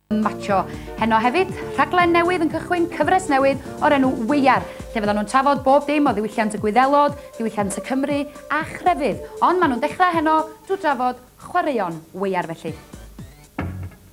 Macho. Heno hefyd, rhaglen newydd yn cychwyn cyfres newydd o'r enw Weiar, lle fyddan nhw'n trafod bob dim o ddiwylliant y Gwyddelod, diwylliant y Cymru a chrefydd. Ond maen nhw'n dechrau heno drwy drafod chwaraeon weiar felly.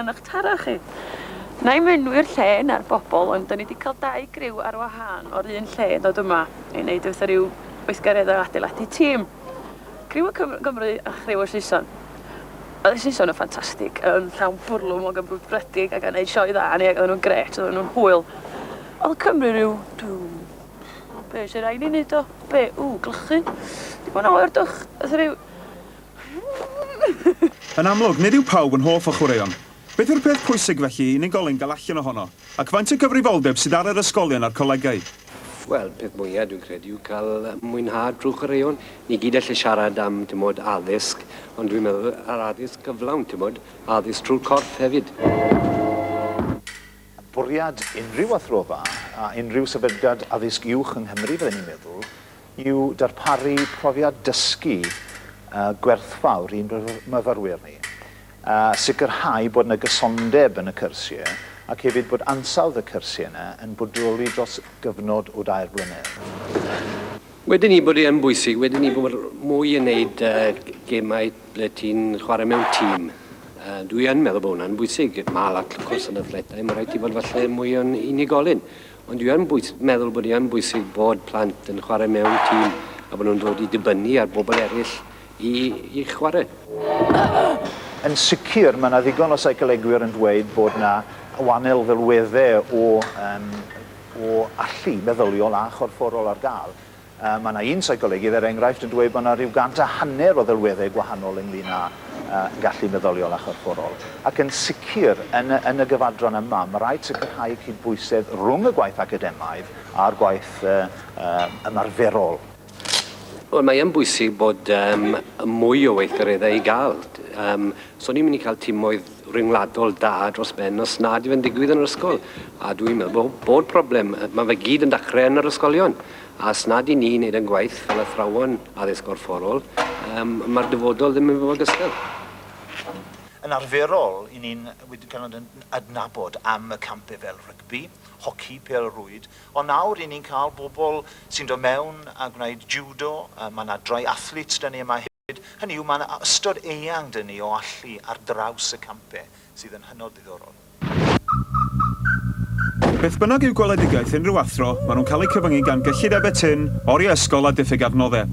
yn ych tara chi. Na i enwi'r lle na'r bobl, ond dyn ni wedi cael dau griw ar wahân o'r un lle yn dod yma i wneud eitha rhyw weithgaredd o adeiladu tîm. Criw y Cymru a chriw y Saeson. Oedd y Saeson yn ffantastig, yn llawn bwrlwm o gymrwydbredig ac yn gwneud sioe dda ni ac oedden nhw'n gret, oedden nhw'n hwyl. Oedd y Cymru rhyw, dwi'n... Be sy'n rhaid ni wneud o? Be? Ww, glychu. Dim ond oer dwch. Oedd rhyw... Yn amlwg, nid yw pawb yn hoff o chwaraeon. Beth yw'r peth pwysig, felly, i unigolyn gael allan ohono, ac faint o gyfrifoldeb sydd ar yr ysgolion a'r colegau? Wel, peth mwya', dwi'n credu, yw cael mwynhad drwy chwaraeon. Ni gyd alle siarad am, timod, addysg, ond dwi'n meddwl yr addysg gyflawn, timod, addysg trwy'r corff hefyd. Bwriad unrhyw athrofa a unrhyw sefydliad addysg uwch yng Nghymru, fydden i'n meddwl, yw darparu profiad dysgu gwerthfawr i'n myfyrwyr ni, a sicrhau bod yna gysondeb yn y cyrsiau ac hefyd bod ansawdd y cyrsiau yna yn bodoli dros gyfnod o dair blynedd. Wedyn 'ny bod e yn bwysig wedyn 'ny bod mwy yn neud gemau ble ti'n chwarae mewn tîm. Dwi yn meddwl bod hwnna'n bwysig. Mae lot o cwrs yn athletau, mae rhaid ti fod falle mwy o'n unigolyn. Ond dwi yn bwys- meddwl bod hi yn bwysig bod plant yn chwarae mewn tîm a bod nhw'n dod i dibynnu ar bobl eraill i, i chwarae. Yn sicr, mae 'na ddigon o seicolegwyr yn dweud bod 'na wannel ddelweddau o, um, o allu meddyliol a chorfforol ar gael. Mae yna un seicolegydd, er enghraifft, yn dweud bod yna rhyw gant a hanner o ddelweddau gwahanol ynglŷn â gallu meddyliol a chorfforol. Ac yn sicr, yn y, yn y gyfadran yma, mae rhaid sicrhau cydbwysedd rhwng y gwaith academaidd a'r gwaith ymarferol. Wel, mae yn bwysig bod um, mwy o weithgareddau i gael. Um, so ni'n mynd i cael timoedd ryngwladol da dros ben os nad yw yn digwydd yn yr ysgol. A dwi'n meddwl bod, bod problem, mae fe gyd yn dachrau yn yr ysgolion. A os nad y'n ni'n neud yn gwaith fel athrawon addysg gorfforol, yym, ma'r dyfodol ddim yn fy ogystal. Yn arferol, y'n ni'n wedi cael yn adnabod am y campie fel rygbi, hoci, pêl-rwyd, ond nawr y'n ni'n cael bobl sy'n dod mewn a gwneud jiwdo, ma' 'na drai-athletes 'da ni yma hefyd. Hyd hynny yw, mae yna ystod eang 'da ni o allu ar draws y campau sydd yn hynod ddiddorol. Beth bynnag yw gweledigaeth unrhyw athro, maen nhw'n cael eu cyfyngu gan gyllidebau tynn, oriau ysgol a diffyg adnoddau.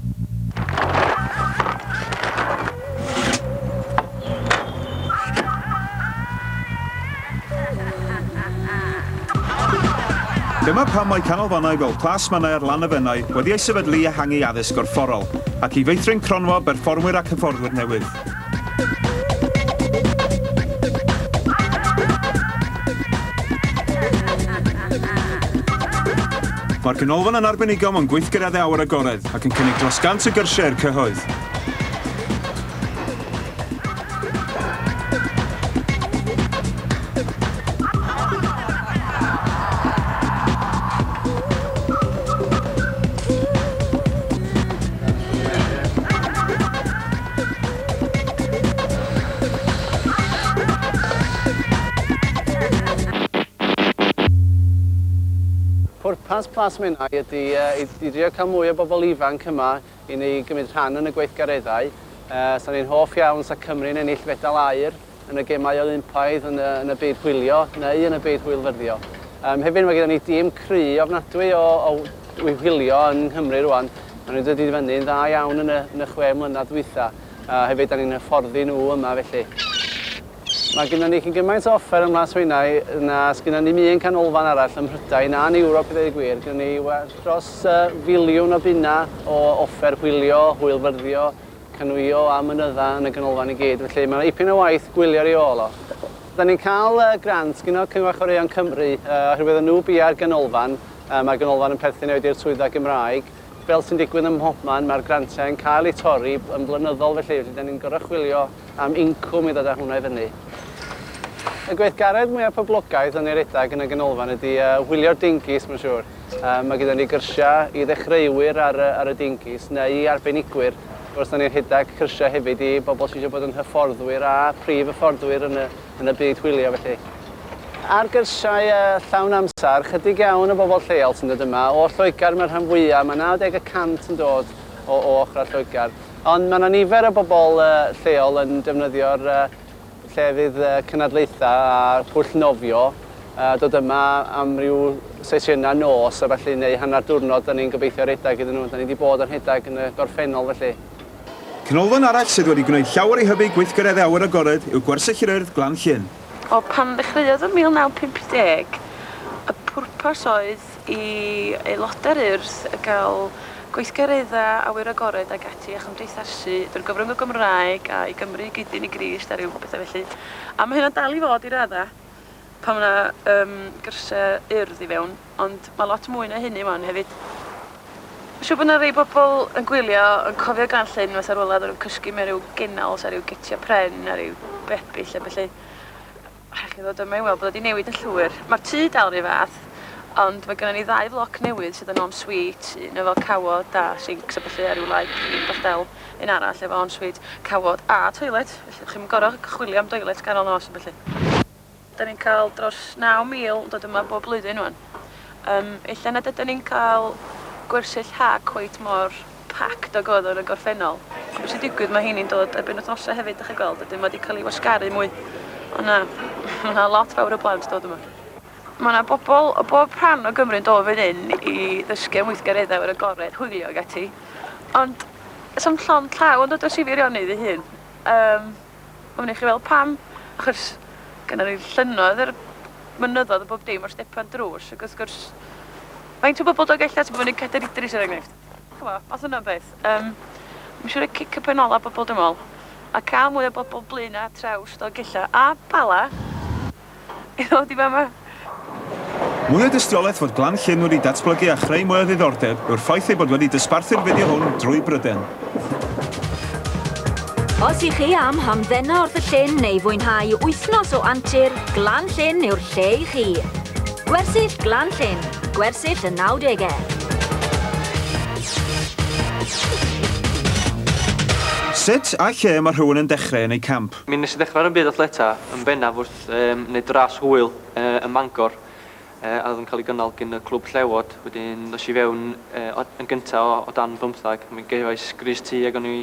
Dyma pam mae canolfannau fel Plas Mannau ar Lanefennau wedi eu sefydlu i ehangu addysg gorfforol, ac i feithrin cronfa berfformwyr ac hyfforddwyr newydd. Mae'r Ganolfan yn arbenigo mewn gweithgareddau awyr agored ac yn cynnig dros 100 o gyrsiau i'r cyhoedd. Pwrpas Plas Menai ydy i drio cael mwy o bobl ifanc yma i ni gymryd rhan yn y gweithgareddau. Sa ni'n hoff iawn sa Cymru'n ennill fedal aur yn y Gemau Olympaidd yn y, yn y byd hwylio neu yn y byd hwylfyrddio. Um, hefyd mae gyda ni dîm cry ofnadwy o, o hwylio yn Nghymru rwan. Maen nhw'n dod i fyny'n dda iawn yn y, yn y chwe mlynedd dwytha. Uh, hefyd, da ni'n hyfforddi nhw yma felly. Mae gennym ni cyn gymaint o offer ym Mhlas Menai na sgynnon ni'm un canolfan arall ym Mhrydain a'n Ewrop i ddweud y gwir. Gynnon ni well dros filiwn o bunnau o offer hwylio, hwylfyrddio, canŵio a mynydda yn y ganolfan i gyd, felly mae 'na ipyn o waith gwylio ar ei ôl o. Dan ni'n cael grant gin y Cyngor Chwaraeon Cymru oherwydd yn nhw biau'r ganolfan, mae'r ganolfan yn perthyn hefyd i'r Swyddfa Gymraeg. Fel sy'n digwydd ym mhobman, mae'r grantiau yn cael eu torri yn flynyddol felly, felly dan ni'n gorfod chwilio am incwm i ddod â hwnna i fyny. Y gweithgaredd mwya poblogaidd yn ei redag yn y ganolfan ydi yy hwylio'r dingis mae'n siŵr. Yy mae gyda ni gyrsia i ddechreuwyr ar y ar y dingis neu i arbenigwyr. Wrth gwrs 'dan ni'n rhedag cyrsia hefyd i bobl sy isio bod yn hyfforddwyr a prif hyfforddwyr yn y yn y byd hwylio felly. Ar gyrsiau yy llawn amser, chydig iawn o bobl lleol sy'n dod yma. O Lloegr mae'r rhan fwya, mae 90 y cant yn dod o o ochrau Lloegr. Ond mae 'na nifer o bobl lleol yn defnyddio'r llefydd cynadleithau a phwll nofio, dod yma am ryw sesiynau nos a ballu neu hanner diwrnod 'dan ni'n gobeithio rhedeg iddyn nhw, 'dan ni 'di bod yn rhedeg yn y gorffennol felly. Canolfan arall sydd wedi gwneud llawer i hybu gweithgareddau awyr agored yw Gwersyll yr Urdd, Glan Llŷn. Wel, pan ddechreuodd yn 1950, y pwrpas oedd i aelodau'r Urdd gael gweithgareddau awyr agored ac ati a chymdeithasu drwy'r gyfrwng o Gymraeg a i Gymru i gyd-dyn i Grist a rhyw bethau felly. A mae hynna'n dal i fod i raddau pan mae yna um, gyrsiau Urdd i fewn, ond mae lot mwy na hynny wan hefyd. Mae'n siŵr bod yna rei bobl yn gwylio yn cofio Gan Llyn fatha rhywle oedden nhw'n cysgu mewn rhyw gennols a rhyw getiau pren a rhyw bebyll a felly. Rhaid i ni ddod yma i weld bod o 'di newid yn llwyr. Mae'r tŷ dal yr un fath, ond mae gynnon ni ddau floc newydd sydd yn en-suite, un efo cawod a sinks a ballu a ryw laip clean bach del, un arall efo en-suite, cawod a toilet, felly dych chi'm yn gor'o' chwilio am doilet ganol nos a ballu. Da ni'n cael dros 9,000 yn dod yma bob blwyddyn ŵan. Yym ella nad ydan ni'n cael gwersyll ha cweit mor packed o goddwr y gorffennol. Ch'mo' be' sy'n digwydd ma' rheini'n dod ar benwythnosau hefyd 'dach chi'n gweld wedyn ma' 'di ca'l 'i wasgaru mwy o' 'na ma' 'na lot fawr o blant dod yma. Ma' 'na bobl o bob rhan o Gymru'n dod fan hyn i ddysgu am weithgareddau o'r agored, hwylio ag ati ond does 'na'm llond llaw yn dod o Sir Feirionnydd ei hun. Yym a wnewch chi weld pam achos gynnon ni llynnoedd a'r mynyddoedd a bob dim o'r stepan drws ac wrth gwrs faint o bobl dod o Gelli Arts i fyny Cadair Idris er enghraifft? Ch'mo', os yna beth. Yym, ma' isio roi cic y pen ola bobol dwi'n me'wl, a ca'l mwy o bobol Blaena' a Trawst o Gella a Bala i ddod i fama. Mwy o dystiolaeth fod Glan Llyn wedi datblygu a chreu mwy o ddiddordeb yw'r ffaith ei bod wedi dosbarthu'r fideo hwn drwy Bryden. Os i chi am hamddena wrth y llyn neu fwynhau wythnos o antur, Glan Llyn yw'r Lle i chi? Gwersyll Glan Llyn, gwersyll y nawdegau. Sut a lle mae rhywun yn dechrau yn eu camp? Mi nes i ddechrau ar y byd athleta yn bennaf wrth um, wneud ras hwyl uh, ym Mangor uh, a oedd yn cael ei gynnal gyn y clwb llewod. Wedyn nes i fewn uh, yn gyntaf o, o dan bymthag. Mi gefais gris tu ag o'n i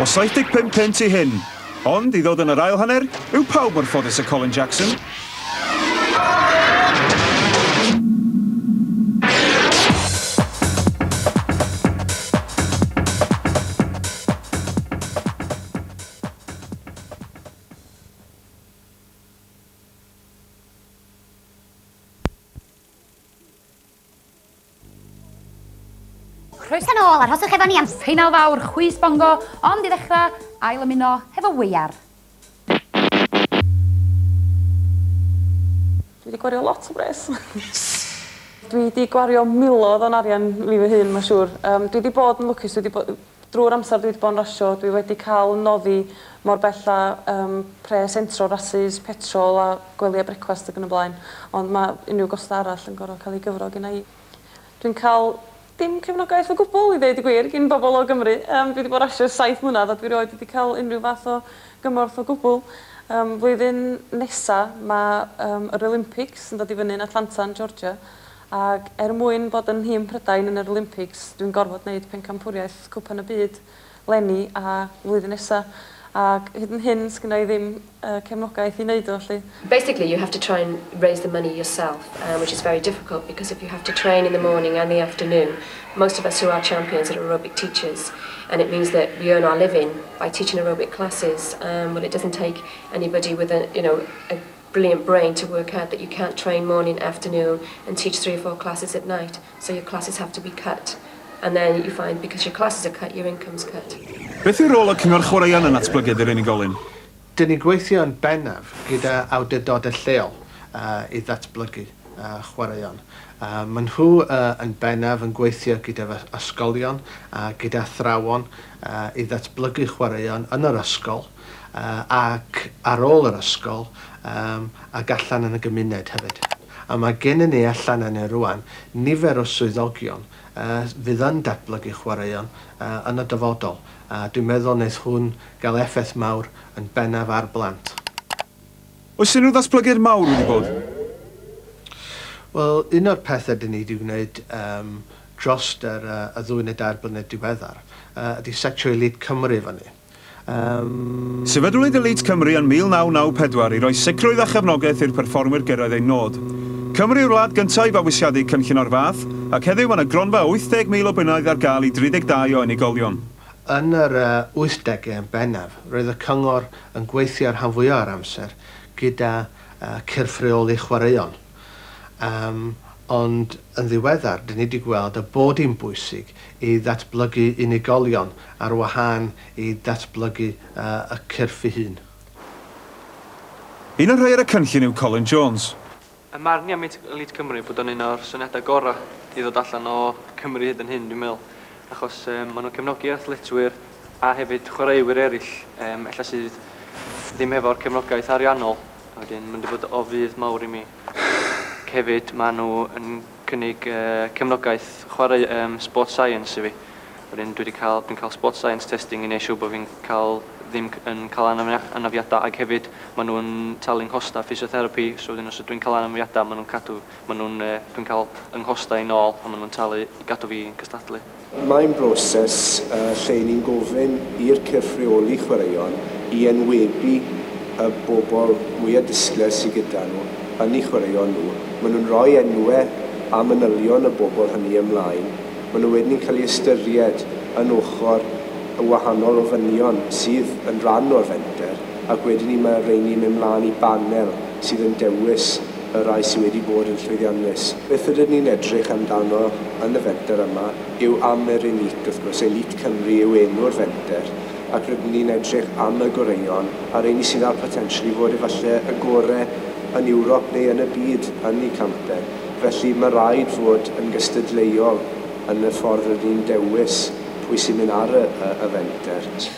O 75 punt i hyn, ond i ddod yn yr ail hanner, yw pawb mor ffodus â Colin Jackson? Croeso nôl, arhoswch efo ni am seinal fawr chwys bongo, ond i ddechrau, ail ymuno hefo Weiar. Dwi di gwario lot o bres. Dwi di gwario milodd o'n arian fi fy hun ma siwr. Yym dwi di bod yn lwcus dwi di bo- Drwy'r amser dwi 'di bod yn rasio dwi wedi cael 'y noddi mor bell â yym pres entro, rasys, petrol a gwely a brecwast ag yn y blaen ond ma' unryw gosta' arall yn gor'o' ca'l 'u gyfro gynna' i. Dwi'n ca'l dim cefnogaeth o gwbwl i ddeud y gwir gin bobol o Gymru yym dwi 'di bo' rasio ers saith mlynadd a dwi rioed wedi ca'l unryw fath o gymorth o gwbwl. Yym flwyddyn nesa ma' yym yr Olympics yn dod i fyny yn Atlanta yn Georgia Ac er mwyn bod yn nhîm Prydain yn yr Olympics, dwi'n gorfod neud pencampwriaeth Cwpan y Byd 'leni a flwyddyn nesa. Ac hyd yn hyn, sgynna i ddim y cefnogaeth i neud o, 'lly. Basically you have to try and raise the money yourself and which is very difficult because if you have to train in the morning and the afternoon, most of us who are champions are aerobic teachers and it means that we earn our living by teaching aerobic classes, well it doesn't take anybody with a, you know, a brilliant brain to work out that you can't train morning, afternoon and teach three or four classes at night so your classes have to be cut and then you find because your classes are cut your income's cut. Beth yw rôl y Cyngor Chwaraeon yn natblygiad yr unigolyn? Dyn ni'n gweithio yn bennaf gyda awdurdodau lleol i ddatblygu chwaraeon. Maen nhw yn bennaf yn gweithio gyda fy ysgolion a gyda athrawon i ddatblygu chwaraeon yn yr ysgol. ac ar ôl yr ysgol ac allan yn y gymuned hefyd. A mae gennym ni allan yna rŵan nifer o swyddogion fydd yn datblygu chwaraeon yn y dyfodol a dwi'n meddwl wneith hwn gael effaith mawr yn bennaf ar blant. Oes unrhyw ddatblygiad mawr wedi bod? Wel, un o'r pethau dyn ni wedi gwneud dros y ddwy neu dair blynedd diweddar ydy setio Elite Cymru fyny. Sefydlwyd Elite Cymru yn 1994 i roi sicrwydd a chefnogaeth i'r perfformwyr gyrraedd eu nod. Cymru yw'r wlad gyntaf i fabwysiadu cynllun o'r fath, ac heddiw mae yna gronfa o 80,000 o bunnoedd ar gael i 32 o unigolion. Yn yr wythdegau yn bennaf, roedd y Cyngor yn gweithio rhan fwyaf o'r amser gyda chyrff rheoli chwaraeon. Yym, ond yn ddiweddar, dyn ni wedi gweld y bod hi'n bwysig i ddatblygu unigolion ar wahân i datblygu y cyrff ei hun. Un o'r rhai ar y cynllun yw Colin Jones. Yn marn i am Elite Cymru bod o'n un o'r syniadau gorau i ddod allan o Cymru hyd yn hyn dwi'n meddwl achos yym maen nhw'n cefnogi athletwyr a hefyd chwaraewyr eraill yym ella sydd ddim hefo'r cefnogaeth ariannol. A wedyn ma'n mynd i fod o fudd mawr i mi. Ac hefyd ma' nhw yn cynnig yy cefnogaeth chwarae yym sport science i fi. Wedyn dwi 'di ca'l dwi'n ca'l sport science testing i neu' siŵr bo' fi'n ca'l ddim c- yn ca'l anafna- anafiada ag hefyd ma' nhw'n talu 'nghosta physiotherapy so wedyn os ydwi'n ca'l anafniada ma' nhw'n cadw ma' nhw'n yy dwi'n ca'l 'y nghostau nôl a ma' nhw'n talu i gadw fi yn cystadlu. Mae'n broses lle ni'n gofyn i'r cyrff reoli chwaraeon i enwebu y bobl mwya' disglair sy gyda nhw yn eu chwaraeon nhw. Maen nhw'n rhoi enwe a manylion y bobl hynny ymlaen. Maen nhw wedyn yn cael eu ystyried yn ochr y wahanol ofynion sydd yn rhan o'r fenter ac wedyn 'ny mae rheini'n mynd mlaen i banel sydd yn dewis y rhai sydd wedi bod yn llwyddiannus. Beth rydyn ni'n edrych amdano yn y fenter yma yw am yr elît, wrth gwrs, elît Cymru yw enw'r fenter, ac rydyn ni'n edrych am y goreuon, a'r rheini sydd â'r potensial i fod efallai y gorau yn Ewrop neu yn y byd yn eu canter. Felly, mae'n rhaid fod yn gystadleuol yn y ffordd rydyn ni'n dewis pwy sy'n mynd ar y fenter.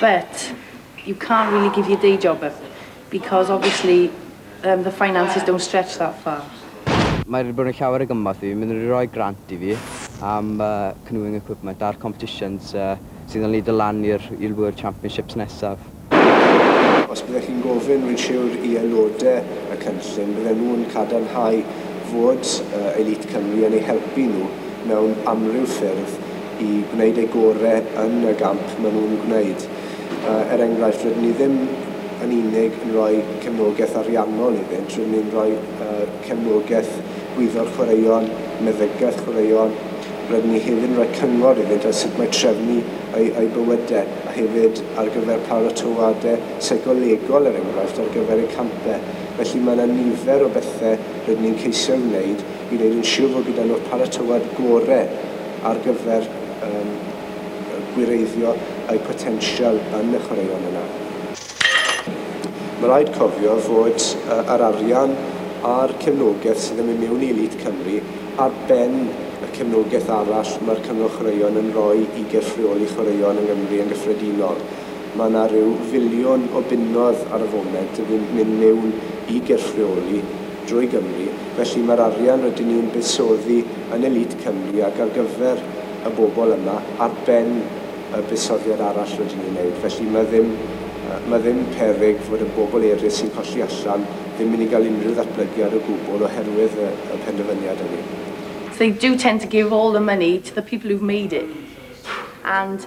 But, you can't really give your day job up because obviously erm the finances don't stretch that far. Mae wedi bod yn llawer o gymorth i fi, maen nhw wedi rhoi grant i fi am canoeing equipment a'r competitions sydd yn lido lan i'r World Championships nesaf. Os byddech chi'n gofyn, rwy'n siwr, i aelodau y cynllun, bydden nhw'n cadarnhau fod Elite Cymru yn eu helpu nhw mewn amryw ffyrdd, i gwneud eu gore yn y gamp maen nhw'n gwneud. Er enghraifft, rydyn ni ddim yn unig yn rhoi cefnogaeth ariannol iddynt, rydyn ni'n rhoi cefnogaeth gwyddor chwaraeon, meddygaeth chwaraeon, rydyn ni hefyd yn rhoi cyngor iddynt ar sut mae trefnu eu bywydau, a hefyd ar gyfer paratoadau seicolegol, er enghraifft, ar gyfer eu campau. Felly, mae yna nifer o bethau rydyn ni'n ceisio'i wneud. i wneud yn siwr fod gyda nhw'r paratowad gorau ar gyfer gwireiddio eu potensial yn y chwaraeon yna. Mae rhaid cofio fod yr arian a'r cefnogaeth sydd yn mynd mewn i Elît Cymru ar ben y cefnogaeth arall mae'r Cyngor Chwaraeon yn rhoi i gyrff rheoli chwaraeon yng Nghymru yn gyffredinol. Mae yna rhyw filiwn o bunnoedd ar y foment yn mynd mewn i gyrff rheoli drwy Gymru, felly mae'r arian rydyn ni'n buddsoddi yn Elite Cymru ac ar gyfer y bobl yma ar ben y buddsoddiad arall rydyn ni'n wneud, felly mae ddim, mae ddim peryg fod y bobl eraill sy'n colli allan ddim mynd i gael unrhyw ddatblygiad o gwbl oherwydd y y penderfyniad hynny. They do tend to give all the money to the people who've made it and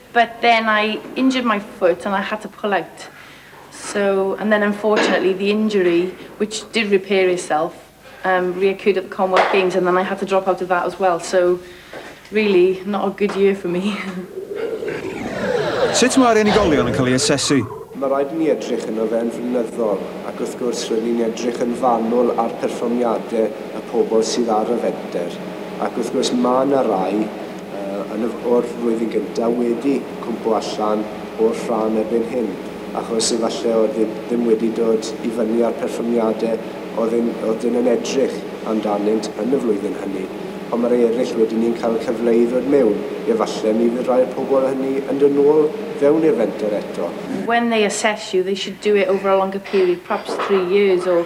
But then I injured my foot and I had to pull out so and then unfortunately the injury which did repair itself um, reoccurred at the Commonwealth Games and then I had to drop out of that as well so really not a good year for me. Sut mae'r unigolion yn cael ei asesu? Mae rhaid i ni edrych yno fe yn flynyddol ac wrth gwrs rydyn ni'n edrych yn fanwl ar perfformiadau y pobl sydd ar y fenter ac wrth gwrs mae yna rai yn yr flwyddyn gyntaf wedi cwmpo allan o'r rhan erbyn hyn, achos efalle oedd e ddim wedi dod i fyny â'r perfformiade oedd e'n oedd e'n yn edrych amdanynt yn y flwyddyn hynny, ond ma rei eryll wedyn ni'n cael cyfle i ddod mewn, efalle mi fydd rhai o'r pobl hynny yn dod nôl fewn i'r fenter eto. when they assess you they should do it over a longer period, perhaps three years or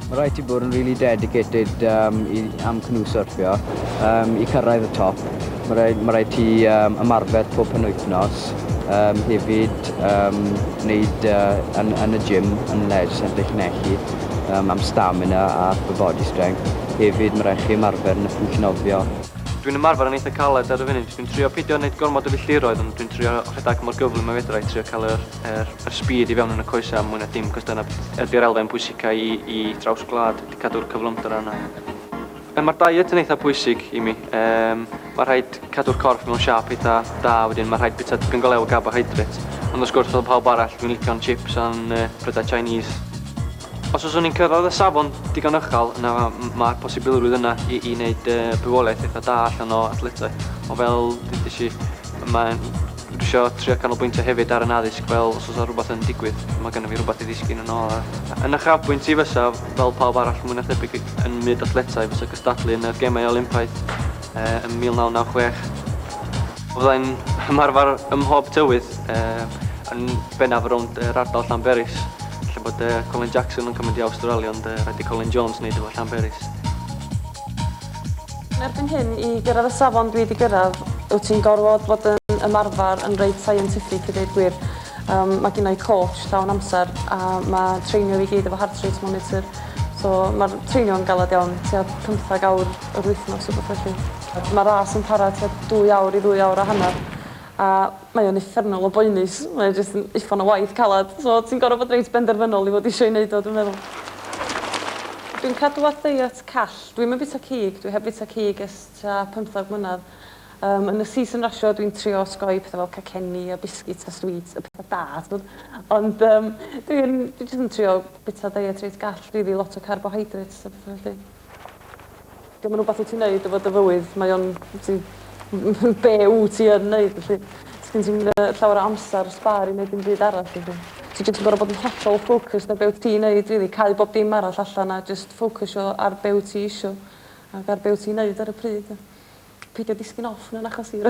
Mae rhaid ti bod yn really dedicated um, i, am cnu syrffio, um, i cyrraedd y top. Mae rhaid, mae rhaid ti um, ymarfer pob penwythnos, um, hefyd um, wneud uh, yn, yn y gym, yn leisure centre chi'n echu, um, am stamina a upper body strength. Hefyd mae rhaid chi ymarfer yn y pwyll nofio. Dwi'n ymarfer yn eitha caled ar y funud. Dwi'n trio pidio wneud gormod o filltiroedd ond dwi'n trio rhedeg mor gyflym a fedra i trio cael yr Er, yr speed i fewn yn y coesau am mwy na dim, cos dyna ydy'r elfen bwysicau i, i draws gwlad, ydy cadw'r cyflymder yna. E, mae'r diet yn eitha pwysig i mi. E, mae rhaid cadw'r corff mewn siap eitha da, wedyn mae rhaid bita tipyn go lew o carbohydrate. Ond os gwrs, fel pawb arall, dwi'n licio'n chips a'n uh, prydau Chinese. Os oes o'n i'n cyrraedd y safon digon ychal, yna mae'r posibilrwydd yna i, i wneud uh, bywoliaeth eitha da allan o athletau. O fel, dydych chi, mae'n Dwi isio trio canolbwyntio hefyd ar yn addysg fel os osa rhywbeth yn digwydd mae gynna fi rhywbeth i ddisgyn yn ôl a yn uchafbwynt i fysa fel pawb arall mwy na thebyg yn myd athletau fysa cystadlu yn yr gemau Olympaidd yy yn 1996 fydda i'n ymarfer ym mhob tywydd yy yn bennaf rownd yr ardal Llanberis lle bod yy Colin Jackson yn cymryd i Awstralia ond yy rhaid i Colin Jones neud efo Llanberis. Yn erbyn hyn, i gyrraedd y safon dwi 'di gyrraedd, wyt ti'n gorfod bod yn ymarfer yn reit scientific i ddeud gwir. Yym mae gynna i coach llawn amser a mae treinio fi i gyd efo heart rate monitor so ma'r treinio'n galed iawn, tua pymtheg awr yr wythnos rwbeth felly. Mae ras yn para tua dwy awr i ddwy awr a hanner A mae o'n uffernol o boenus mae o jyst yn uffern o waith calad so ti'n gor'o' bod reit benderfynol i fod isio 'i neud o dwi'n meddwl. Dwi'n cadw at ddeiet call. Dwi'm yn bita cig dwi heb fita cig ers tua pymthag mlynadd. Yym yn y season rasio dwi'n trio osgoi pethe fel cacenni a biscuits a sweets y petha da t'mod ond yym dwi'n dwi jyst yn trio bita deiet reit gall rili lot o carbohydrates a petha felly. 'Di o'm yn wbath wt ti'n neud efo dy fywyd mae o'n wt ti m- m- m- be' wt ti yn neud felly. Sgin ti'm yy llawer o amsar sbâr i neud dim byd arall felly. Ti jyst yn gor'o' bod yn hollol focused ar be' wt ti'n neud rili cau bob dim arall allan a jyst ffocysio ar be' wt ti isio ac ar be' wt ti'n neud ar y pryd a peidio disgyn off mewn achosion.